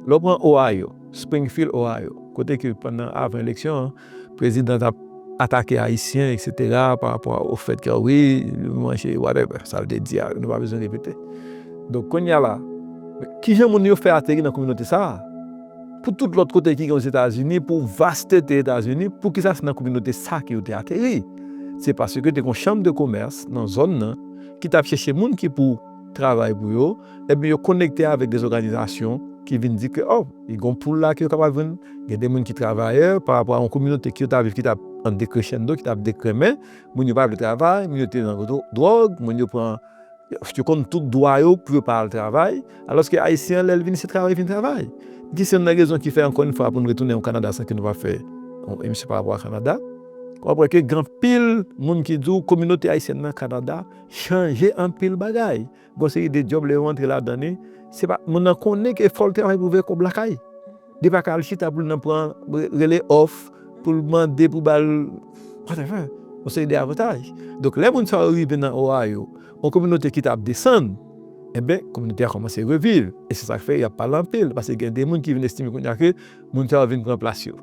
Lè w pran Ohio, Springfield, Ohio, kote ke pandan, avan eleksyon an, President ap atake ayisyen etc pa rapò a o fèt ke wi nou manje whatever sa vle di a nou pa bezwen repete donk kounye a la kijan moun yo fè ateri nan kominote sa pou tout lòt kote ki gen ozetazini pou vastete etazini poukisa se nan kominote sa ke yo te ateri se paske te gon chanm de komès nan zòn nan ki tap chèche moun ki pou travay pou yo, ebyen yo konekte avèk de zoganizasyon ki vin di ke oh li gon poul la ke yo kapab jwenn, gen de moun ki travayè pa rapò a yon kominote ke yo ta viv ki ta an dekrechenndo, ki ta ap dekrenmen, moun yo pa vle travay, moun yo te nan dwòg, moun yo pran, yo konn tout dwa yo pou yo pa al travay, alòske Ayisyen an lè l vini se travay li vin travay. Ki se youn nan rezon ki fè ankò yon fwa pou nou retounen an Kanada san ke nou pa fè yon emisyon pa rapò a Kanada, wap wè ke gen anpil moun ki di w kominote Ayisyèn nan Kanada chanje anpil bagay gon seri de djòb lè yo antre ladan li se pa moun nan konnen ke fòl travay pou vè kòb lakay li pa ka al chita poul nan pran rele òf poul mande pou bal watèvè gon seri de avantaj donk lè moun sa yo rive nan Ohio yon kominote ki tap desann enben kominote a kòmanse reviv e se sak fè yap pale anpil paske gen de moun ki vin estime kounya ke Moun sa yo vin pran plas yo.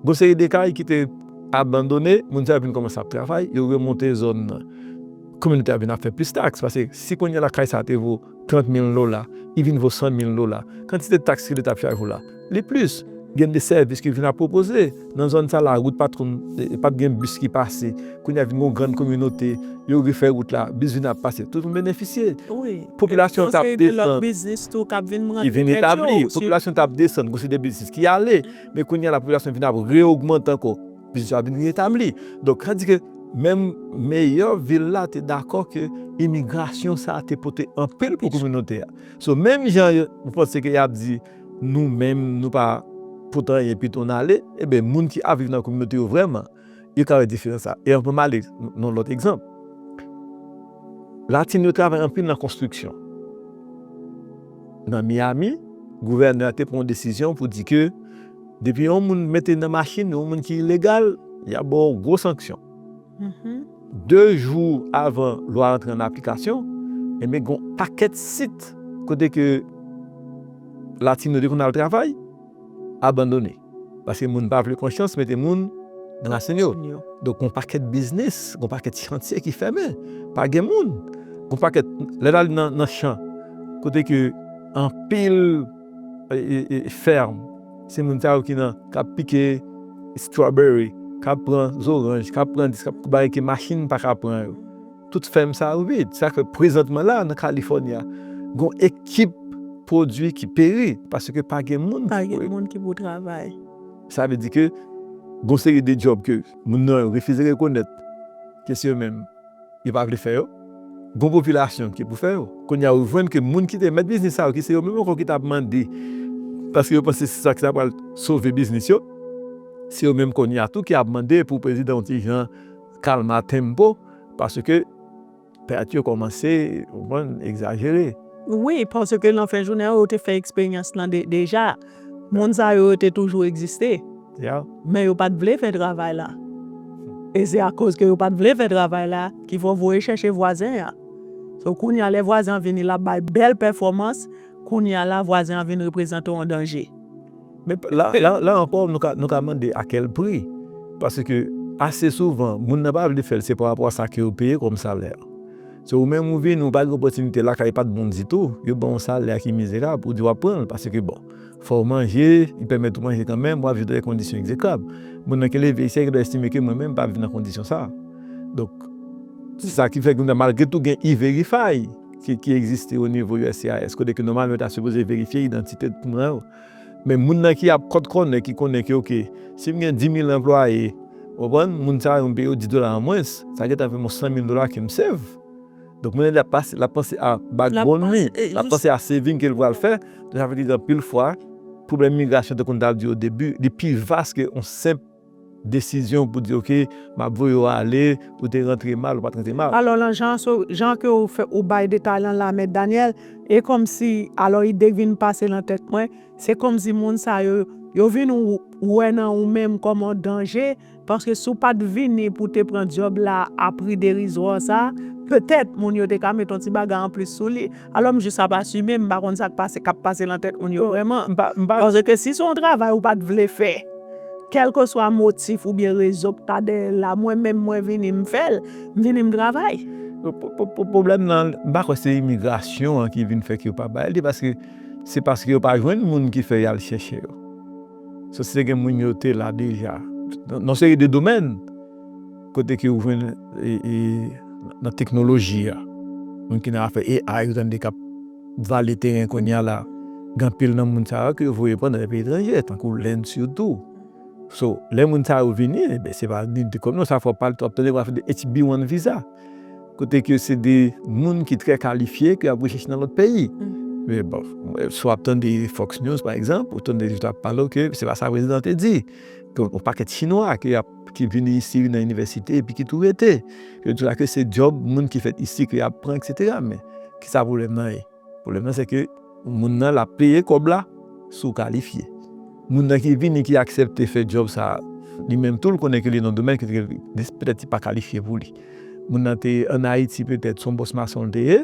Gon seri de kay ki te abandone, moun sa yo vin kòmanse ap travay, yo remonte zòn nan. Kominote a vin ap fè plis taks, pase si kounye a la kay sa a te vo 30 mil dola, li vin vo 100 mil dola. Kantite taks ke leta ap chaje w la, li plis. Gen de sèvis ki vin ap pwopoze. Nan zòn sa a la wout pa t konn, pa t gen bis ki pase. Kounye a vin gen yon grann kominote, yo refè wout la, bis vin ap pase. Tout moun benefisye. popilasyon t ap desann ki vin etabli, popilasyon t ap desann gen yon seri de biznis ki ale, men kounye a la popilasyon vin ap re-ogmante ankò, biznis yo ap vin re-etabli. Donk sa di ke menm meyè vil la te dakò ke imigrasyon sa a te pote anpil pou kominote a. So menm jan yo panse ke y ap di nou menm nou pa pote anyen pito n ale, enben moun ki ap viv nan kominote yo vrèman, Yo travay dife nan sa. E anvan m ale nan lòt egzanp, Latin yo travay anpil nan konstriksyon. Nan Miyami, gouvènè a te pran yon desizyon pou di ke depi yon moun mete nan machin yon moun ki ilegal, y ap ba w gwo sanksyon. De jou avan lwa a antre an aplikasyon, ebyen gen yon pakèt sit kote ke Latin yo te konn al travay abandone. Paske moun pa vle konsyans mete moun nan rasin yo. Donk gon pakèt biznis, gon pakèt chantye ki fèmen. Pa gen moun. Gon pakèt, lè n al nan chan kote ke anpil fèm, se moun sa yo ki nan, k ap pike strawberry, k ap pran zoranj, k ap pran dis, k ap, bagay ke machin pa ka pran yo. Tout fèm sa yo vid. Sa fè prezantman la nan California gon ekip pwodwi ki peri paske pa gen moun ki pou. Pa gen moun ki pou travay. Sa vle di ke gon seri de djòb ke moun nan yo refize rekonèt ke se yo menm yo pa vle fè yo. Gon popilasyon ki pou fè yo. Kounye a ou jwenn ke moun ki te mèt biznis sa yo ki se yo menm ankò ki ta mande paske yo panse se sa ki ta pral sove biznis yo. Se yo menm kounye a tou ki ap mande pou prezidan yon ti jan kalma tempo. paske pèt yo kòmanse egzajere. Wi, paske nan fen jounen an yo te fè eksperyans lan deja. Moun sa yo yo te toujou egziste, men yo pa t vle fè travay la. E se akoz ke yo pa t vle fè travay la ki fè w voye chèche vwazen an. So kounye a lè vwazen an vini l ap bay bèl pèfòmans, kounye a la vwazen an vin reprezante w yon danje. Men, la ankò, nou ka mande a kèl pri? Paske, ase souvan, moun nan pa vle fè l se parapò a sa ke yo peye kòm salè. Se ou menm ou vini, ou pa gen opòtinite, lakay pa t bon ditou, yo ban ou salè ki mizerab, ou di w ap pran l paske, bon, fò w manje, li pèmèt ou manje kanmenm, w ap viv nan yon kondisyon egzekrab. Moun nan ki leve ayisyen an gen dwa estime ke mwen menm m pa viv nan kondisyon sa a. Donk, se sa ki fè ke nou, malgre tou gen E-Verify ki egziste onivo uscis kote ke nòmalman yo ta sipoze verifye idantite tout moun yo. Men moun nan ki ap kòt kònen ki konnen ke ok, si m gen dimil anplwaye, ou konprann, moun sa yo m peye yo di dola an mwens, sa gentan fè m yon sanmil dola ke m save. Donk moun nan li ap pase, l ap panse a backbone li, l ap panse a saving ke l pral fè. Donk sa vle di anpil fwa, pwoblèm migrasyon tankou m t ap di odebi, li pi vas ke yon senp. Desizyon pou di ok map voye w ale ou te rantre mal ou pat rantre mal. Alò lan jan so jan ke ou fè ou bay detay lan la mèt Daniel e kòmsi alò ide k vin pase lan tèt mwen se kòmsi moun sa yo yo vin wè nan ou menm kòm on danje paske si w pat vini pou te pran dyòb la a pri derizwa sa petèt moun yo te ka met on ti bagay anplis sou li Alò m jis ap asime, m pa konn sa k pase k ap pase nan tèt moun yo vrèman. M pa panse ke si se yon travay ou pa t vle fè, kèlkeswa motif oubyen rezon k ta dèyè l la, mwen menm mwen vini m fè l, m vini m travay. Pwoblèm nan, m pa kwè se imigrasyon an ki vin fè ke yo pa bay li paske se paske yo pa jwenn moun ki fè y al chèche yo. Sou se gen moun yo te la deja nan yon seri de domèn. Kote ke ou jwenn nan teknoloji a, moun ki nan afè AI ou tande kap vale teren kounya la, gen anpil nan moun sa yo ke yo voye pran nan lè peyi etranje, tankou Lend sitou. So, lè moun sa yo vini, men se pa ni de kòb non, sa fò pa wap tande yo ap fè de HB1 viza. Kote ke se de moun ki trè kalifye ke yap rechèche nan lòt peyi. Men bon, si wap tande Fox News pa egzanp, ou tande yo ap pale ke se pa sa prezidan te di. Ke yon pakèt chinwa ke yap. ki vini isi nan inivèsite epi ki tou rete. Yo di la ke se djòb moun ki fèt isi ke yap pran eksetera men ki sa pwoblèm nan ye? Pwoblèm nan se ke moun nan lap peye kòb la si w kalifye. Moun nan ki vini ki aksepte fè djòb sa a li menm tou l konnen ke li nan domèn ke petèt li pa kalifye pou li. Moun nan te an Ayiti petèt se yon bòs mason li te ye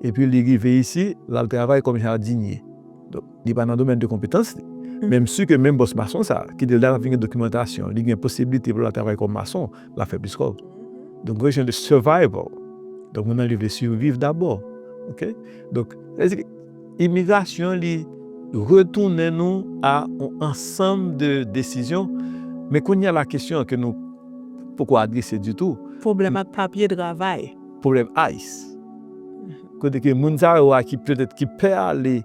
epi li rive isi lal travay kòm jadinye. Li pa nan domèn de konpetans li. Men m si ke menm bòs mason sa, ki di lè l ap vin gen dokimantasyon, li gen posiblite pou l al travay kòm mason, l ap fè plis kòb. Donk gen yon jan de survival. Donk moun nan li vle surviv dabò. Ok? Donk, sa vle di, imigrasyon li retounen nou a yon ansanm de desizyon. Men kounye a la kesyon an ke nou poko adrese ditou. Pwoblèm ak papye travay. Pwoblèm ice. Kote ke moun sa yo a ki petèt ki pè ale.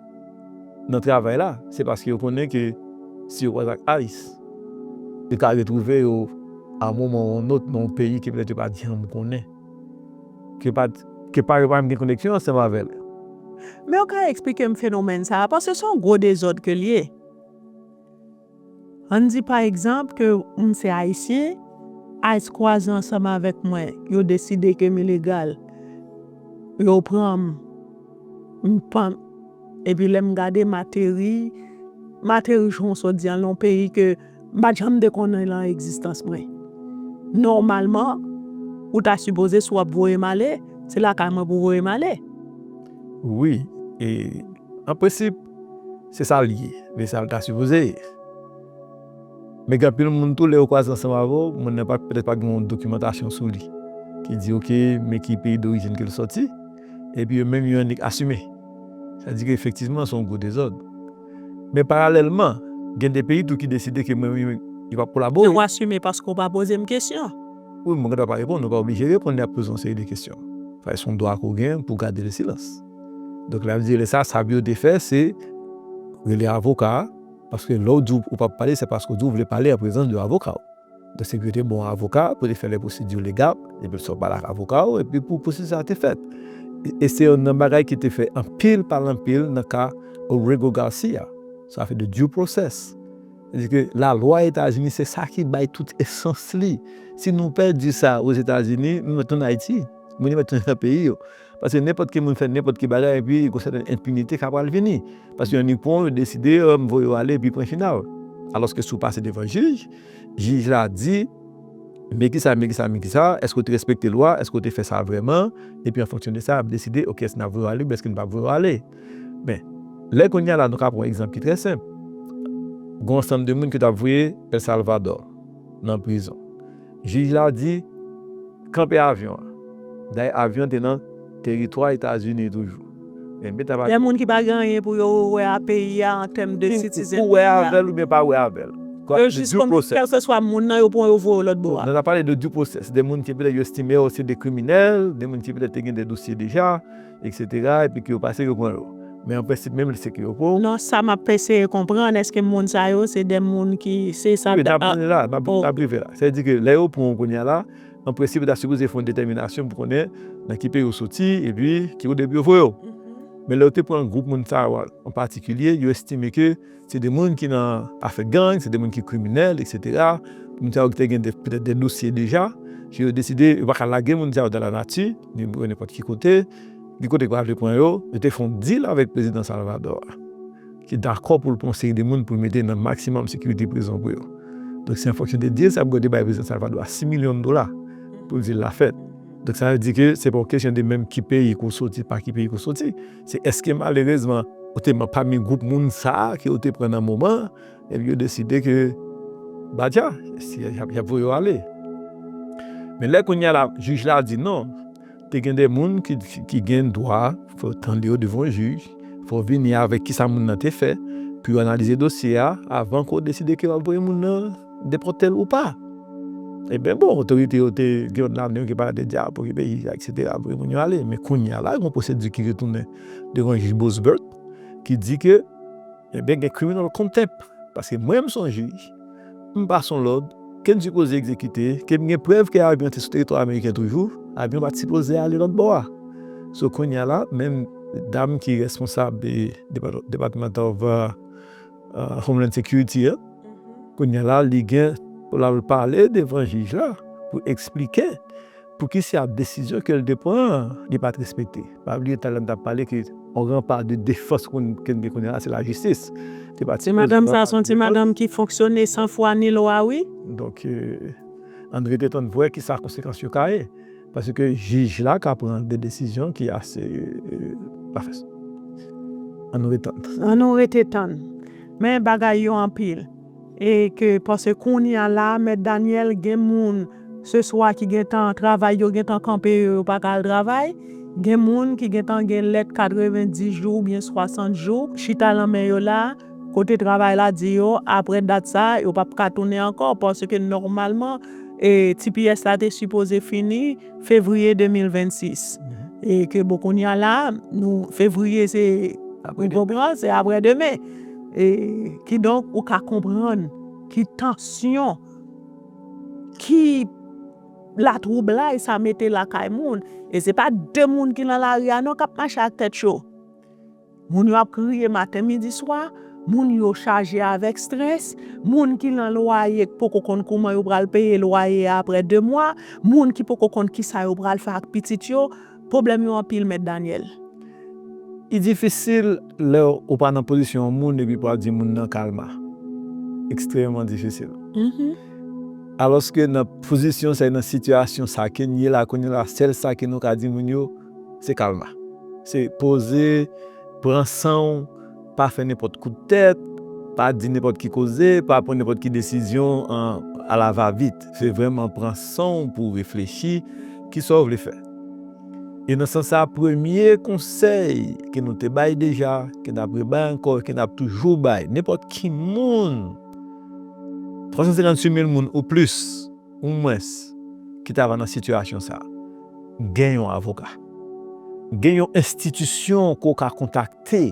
nan travay la, se paske yo konnen ke si yo pral ak ice, yo ka retwouve yo a yon moman ou yon lòt nan yon peyi ke petèt yo pa janm konnen, ke pa yo pa menm gen koneksyon ansanm avè l. Men yo ka eksplike m fenomèn sa a, paske se yon gwo dezòd ke l ye. An n di pa egzanp ke m se Ayisyen, ice kwaze ansanm avèk mwen, yo deside ke m ilegal, yo pran m, m pann, epi lè m gade m ateri, m ateri Jwonsodyan nan yon peyi ke m pa t janm te konnen nan egzistans mwen. Nòmalman, ou ta sipoze si w ap voye m ale, se lakay mwen pou w voye m ale. Wi, e an prensip. Se sa l ye, men sa l ta sipoze ye. Men gen anpil moun tou, lè yo kwaze ansanm avè w, moun nan pa, petèt pa gen yon dokimantasyon sou li ki di ok, men ki peyi dorijin ke l sòti, epi yo menm yo annik asime. Sa di ke efektivman se yon gwo dezòd. Men paralèlman, gen de peyi tou ki deside ke menm yo, yo pa p kolabore. Yo asime paske ou pa poze m kesyon. Wi, mwen gen dwa pa reponn, ou pa oblije reponn lè y ap poze w yon seri de kesyon. Sa se yon dwa ke w gen pou w gade le silans. Donk lè ap di lè sa sab yo te fè se rele avoka a, paske lè ou di ou pap pale se paske ou di ou vle pale an prezans de avoka ou. Donk se pou yo te ba ou avoka pou te fè lè pwosedi legal, epi sa ou pale ak avoka ou epi pou pwosedi sa te fèt. E se youn nan bagay ki te fè anpil pale anpil nan ka Orego Garcia, sa fè de due process. Se di ke lalwa Etazini se sa ki bay tout esans li. Si nou pèdi sa Ozetazini, nou mèt tounen Ayiti, moun yo mèt tounen nan peyi yo. Paske nenpòt ki moun fè nenpòt ki bagay epi gon sèten enpinite ka pral vini. Paske yon ikwon yo deside yo m voye w ale epi pwen final. Alòske si w pase devan jij, jij la di, Men kisa, men kisa, men kisa, èske w te respekte lwa, èske w te fè sa vrèman? Epi an fonksyon de sa y ap deside, ok èske n ap voye w ale oubyen èske n p ap voye w ale. Men, lè kounye a la nou ka pran yon egzanp ki trè senp. Gon ansanm de moun ke yo t ap voye El Salvador nan prizon. Jij la di, Kanpe avyon an. Dayè avyon te nan teritwa Etazini toujou. Dè moun ki pa gen anyen pou yo wè a peyi a an tèm de sitizen peyi a. Ou wè avè l oubyen pa wè avè l. Yo jis konn kèlkeswa moun nan yo pran yo voye lòt bò a. Nan ta pale de due process. De moun ki petèt yo estime yo se de kriminèl, de moun ki petèt te gen de dosye deja. Etc epi ke yo pase yo pran yo. Men an prensip menm li se ke yo pou. Non sa map eseye konprann eske moun sa yo se de moun ki se sa. Wi nap vini la nap rive la. Sa vle di ke lè yo pran w kounya la an prensip yo ta sipoze fè yon detèminasyon pou konnen nan ki peyi ou soti epi ki kote pou yo voye w. Men lè yo te pran gwoup moun sa yo an patikilye yo estime ke Se de moun ki nan afè gang, se de moun ki kriminèl, eksetera. Moun sa yo ki te gen petèt de dosye deja, ke yo deside yo pa ka lage moun sa yo dan lanati, ni yo nenpòt ki kote, ni kote yo pa vle pran yo. Yo te fè yon dil avèk prezidan Salvadò a, ki dakò pou l pran yon seri de moun pou l mete nan maksimòm sekirite prizon pou yo. Donk, se an fonksyon de dil sa pou yo te bay prezidan Salvadò a 6 milyon dola pou dil la fèt. Donk, sa vle di ke se pa yon kesyon de menm ki peyi ke w soti, pa ki peyi ke w soti. Se èske malerezman ou te man pami gwoup moun sa ke ou te pran nan moman an, epi yo deside ke ba dja, si y ap voye yo ale. Men lè kounye a la, jij la di non, te gen de moun ki gen dwa pou yo tande yo devan yon jij, fò w vini avèk kisa moun nan te fè, pou yo analize dosye a avan ke w deside ke w ap voye moun nan. depòte l ou pa. E byen bon, otorite yo te gen yon lame yo ki pa te dja pou ki peyi a, eksetera, voye moun yo ale. Men kounye a la, gen yon pwosedi ki retounen devan jij Bosbert ki di ke e byen gen criminal contempt. Paske mwen m sonje, m pase yon lòd ke m sipoze egzekite, ke m gen prèv ke avyon an te sou teritwa ameriken toujou, avyon an pa t sipoze ale lòt bò a. So kounye a la, menm dam ki responsab Department of. Homeland Security an, kounyè la li gen pou l al pale devan jij la pou eksplike poukisa desizyon ke l te pran an li pa t respekte. Pa bliye talè m t ap pale ke yon gran pa de defans moun ke n gen kounyè la se lajistis. Te pa t sipoze pran pa de defans. Ti madanm sa a se yon ti madanm ki fonksyone san fwa ni lwa wi. Donk Andre te tann pou wè kisa konsekans yo ka ye. Paske jij la ka pran de desizyon ki ase pafè. An nou ret tann. An nou rete tann. Men bagay yo anpil. E ke pase kounya la mèt Daniel gen moun se swa ki gentan travay yo gentan kanpe yo yo pa ka al travay. Gen moun ki gentan gen lèt 90 jou oubyen 60 jou chita lan men yo la. Kote travay la di yo aprè dat sa a yo pap ka tounen ankò paske nòmalman tps la te sipoze fini fevriye 2026 e ke bon kounya la nou fevriye se ou konpran se aprè demen e kidonk ou ka konprann ki tansyon ki latwoublay sa mete lakay moun e se pa de moun ki nan lari a non kap mache ak tèt cho. Moun yo ap kriye maten midi swa, moun yo chaje avèk strès, moun ki lan lwaye k poko konn kouman yo pral peye lwaye a aprè 2 mwa, moun ki poko konn kisa yo pral fè ak pitit yo, pwoblèm yo anpil mèt Daniel. Li difisil lè ou pa nan pozisyon yon moun epi pou ap di moun nan kalma. Ekstrèmeman difisil. Alòske nan pozisyon sa e nan sitiyasyon sa ke n ye la kounye la sèl sa ke nou ka di moun yo, se kalma. Se poze, pran san w, pa fè nenpòt kout tèt, pa di nenpòt ki koze, pa pran nenpòt ki desizyon a la va vit. Se vrèman pran san w pou w reflechi ki sa w vle fè. E nan sans sa a, premye konsèy ke nou te bay deja, ke n ap rebay ankò, ke n ap toujou bay nenpòt ki moun, 356 mil moun ou plis, Ou mwens ki ta va nan sitiyasyon sa a, gen yon avoka. Gen yon enstitisyon ke w ka kontakte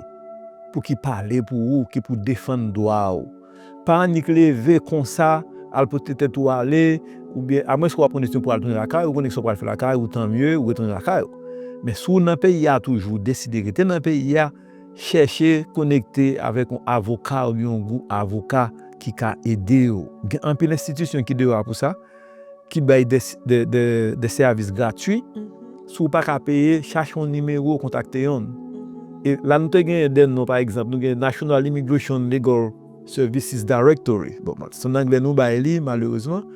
pou ki pale pou ou, ki pou defann dwa ou. Pa annik leve konsa al pote tèt ou ale oubyen a mwens ke w ap pran desizyon pou al tounen lakay ou, konnen ki sa w pral fè lakay ou, tanmye ou retounen lakay ou. Men si w nan peyi a toujou, deside rete nan peyi a, Chèche konekte avèk yon avoka oubyen yon gwoup avoka ki ka ede ou. Gen anpil enstitisyon ki deyò a pou sa, ki bay de sèvis gratwi. Si w pa ka peye, chache yon nimewo, kontakte yon. E la nou te genyen de non, pa egzanp, nou gen National Immigration Legal Services Directory. Bon, se an angle nou bay li, malerezman.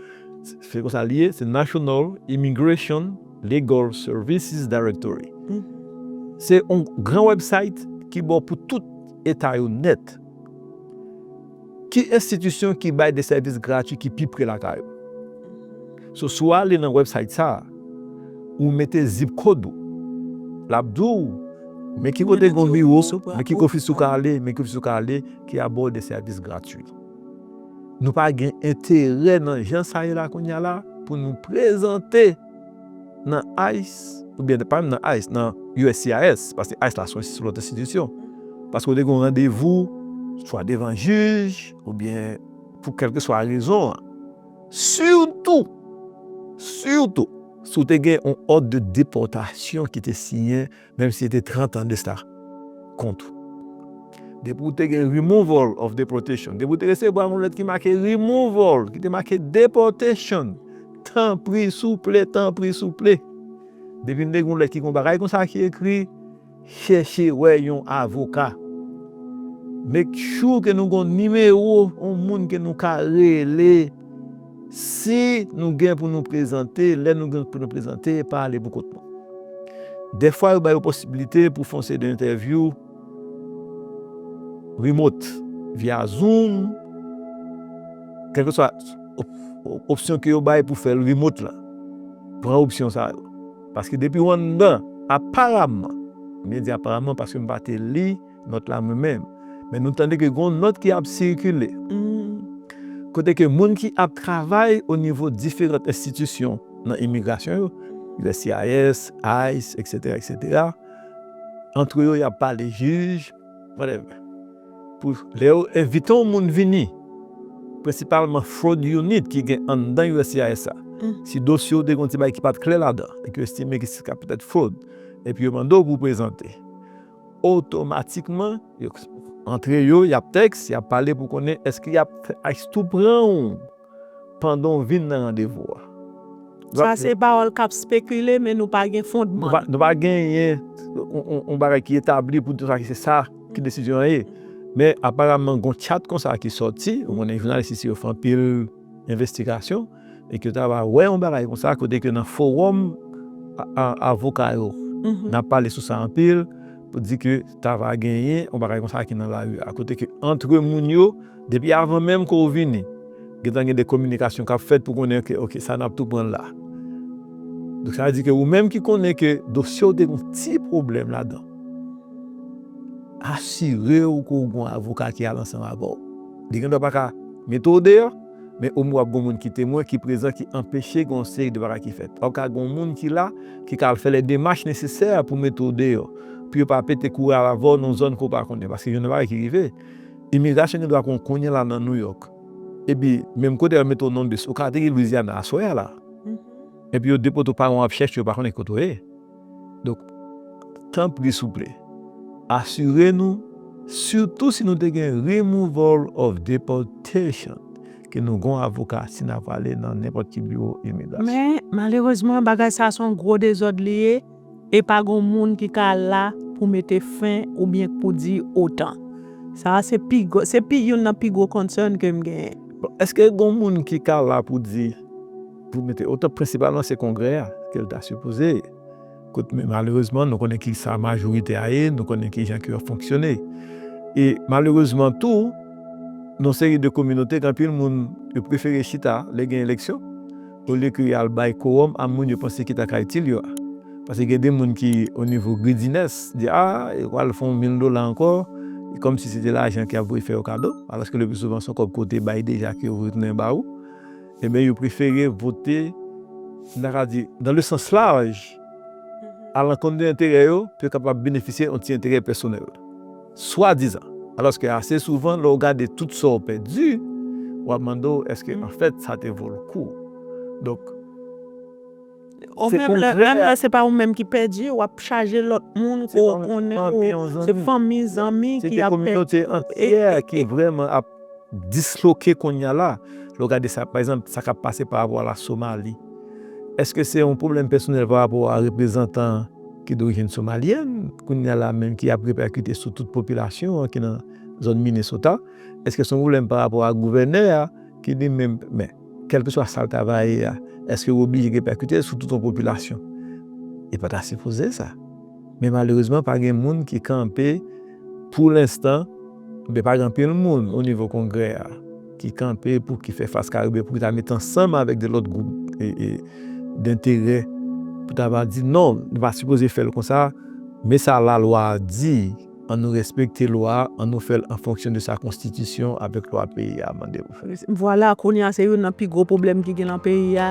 Se konsa li ye, se National Immigration. Legal Services Directory se yon gran website ki bon pou tout eta yo nèt. Ki enstitisyon ki bay de sèvis gratwi ki pi pre lakay ou? So si w ale nan website sa a, ou mete zip kod ou, l ap di w men ki kote gen yon biwo, men ki ofis ou ka ale, men ki ofis ou ka ale ki a ba w de sèvis gratwi. Nou pa gen enterè nan jan sa ye la kounye a la pou nou prezante nan ice oubyen pa menm nan ice nan uscis paske ice la se yon lòt enstitisyon paske ou te gen yon randevou swa devan jij oubyen pou kèlkeswa rezon an sitou sitou si w te gen yon òd de depòtasyon ki te siyen Menm si se te 30 ans de sa kont ou. Depi ou te gen removal of deportation, depi ou te resevwa yon lèt ki make removal, ki te make deportation, tanpri souple, tanpri souple, depi nou te gen yon lèt ki gen yon bagay konsa ki ekri, chèche wè yon avoka. Make sure ke nou gen yon nimewo yon moun ke nou ka rele. Si nou gen pou nou prezante, lè nou gen pou nou prezante, pa ale pou kont nou. Dèfwa yo ba yo posibilite pou fon seri de entèvyou remot, via zoom, kèlke swa opsyon ke yo bay pou fèl remot la. Pran opsyon sa yo. Paske depi ou anndan, aparamman, mwen di aparamman paske m pa te li. nòt la mwen menm, men nou tande ke gen yon nòt ki ap sikile, kote ke moun ki ap travay o nivo diferant enstitisyon nan imigrasyon yo, uscis, ice, eksetera, eksetera, antre yo y ap pale jij, whatever. Pou lè yo envite yon moun vini, prensipalman fraud unit ki gen anndan uscis la, si dosye w te gen yon ti bagay ki pa t klè ladan, e ke yo estime ke sa ka petèt fraud, epi yo mande w pou w prezante. Otomatikman, yo antre yo, y ap tèks, y ap pale pou konnen èske y ap fè ice tou pran ou pandan w vin nan randevou a. Sa se pawòl k ap spekile men nou pa gen fondman l. Nou pa genyen yon bagay ki etabli pou di se sa ki desizyon an ye. Men aparamman gen yon tchat konsa ki sòti, ou konnen jounalis isi yo fè anpil. envestigasyon e ke ta va wè yon bagay konsa kote ke nan forum avoka yo nan pale sou sa anpil pou di ke ta va genyen yon bagay konsa ki nan lari a kote ke antre moun yo depi avan menm ke ou vini gen tan gen de kominikasyon kap fèt pou konnen ke ok sa nap tou pran la donk sa vle di ke ou menm ki konnen ke dosye ou te gen yon ti pwoblèm ladan asire ou ke ou gen yon avoka ki al ansanm avèw. Li gen dwa pa ka mete w deyò, men omwen w ap gen yon moun ki temwen, ki prezan, ki anpeche gen yon seri de bagay ki fèt. Ou ka gen yon moun ki la, ki ka al fè lè demach nesesè pou mete w deyò, pou yo pa pete kouri al avè w nan yon zòn ke w pa konnen. Paske gen de bagay ki rive, imigrasyon gen dwa konn kounye la nan Nouyòk, epi menm kote yo mete w Nonbis, ou ka ateri Lwizyana aswè a la, epi yo depote w pa yon w ap chèche, yo pa konnen ki kote w ye. Donk, tanpri souple, asire nou, sitou si nou te gen Removal of Deportation, ke nou gon avoka si na pwale nan nenpòt ki biwo imigrasyon. Men, malerezman, bagay sa se yon gwo dezòd li ye, e pa gon moun ki ka la pou mete fen oubyen k pou di otan. Sa a se pi gwo, se pi youn nan pi gwo concern ke m genyen. Bon, èske gon moun ki ka la pou di. Pou mete otan prensipalman se kongrè a ke l ta sipoze kot men malerezman nou konnen ki sa majorite a ye nou konnen ki jan ke yo fonksyone e malerezman tou nou seri de kominote gen anpil moun yo prefere chita lè gen eleksyon olye ke y al bay kowòm a moun yo panse ki ta ka itil yo a pase gen de moun ki o nivo gridines di a yo pral fè yon mil dola ankò e kòm si se te lajan ke yo ap voye fè yo kado alòske le pi souvan se yon kòb ke yo te bay deja ke yo vle tounen ba ou. Enben yo prefere vote, nou ta ka di, nan le sans laj, a lankont de enterè yo, pou yo kapab benefisye yon ti enterè pèsonèl. Swadizan. Alòske ase souvan, lè w gade tout sa w pèdi, w ap mande w èske anfèt sa te vo l kou. Donk. Ou menm lè menm lè se pa ou menm ki pèdi ou ap chaje lòt moun ke w konnen ou se fanmi zanmi ki ap pèdi. Se te kominote antyè ki vrèman ap disloke kounya la. Lè w gade sa pa egzanp sa k ap pase pa rapò a la Somali. Eske se yon pwoblèm pèsonèl pa rapò a reprezantan ki dorijin somalyèn kounya la menm ki ap repèkite sou tout popilasyon an ki nan zòn Minnesota? Eske se yon pwoblèm pa rapò a gouvènè a ki li menm men. Kèlkeswa sa l ta va ye a, èske yo oblije repèkite l sou tout yon popilasyon? Li pa ta sipoze sa. Men malerezman pa gen moun ki kanpe pou lenstan, oubyen pa gen anpil moun onivo Kongrè a ki kanpe pou ki fè fas kare oubyen pou ki ta mete ansanm avèk de lòt gwoup denterè pou ta va di non, nou pa sipoze fè l konsa, men sa lalwa a di. An nou respekte lwa, an nou fè l an fonksyon de sa konstitisyon avèk lwa peyi a mande pou fè. Vwala, kounye a se youn nan pi gwo pwoblèm ki gen lan peyi a.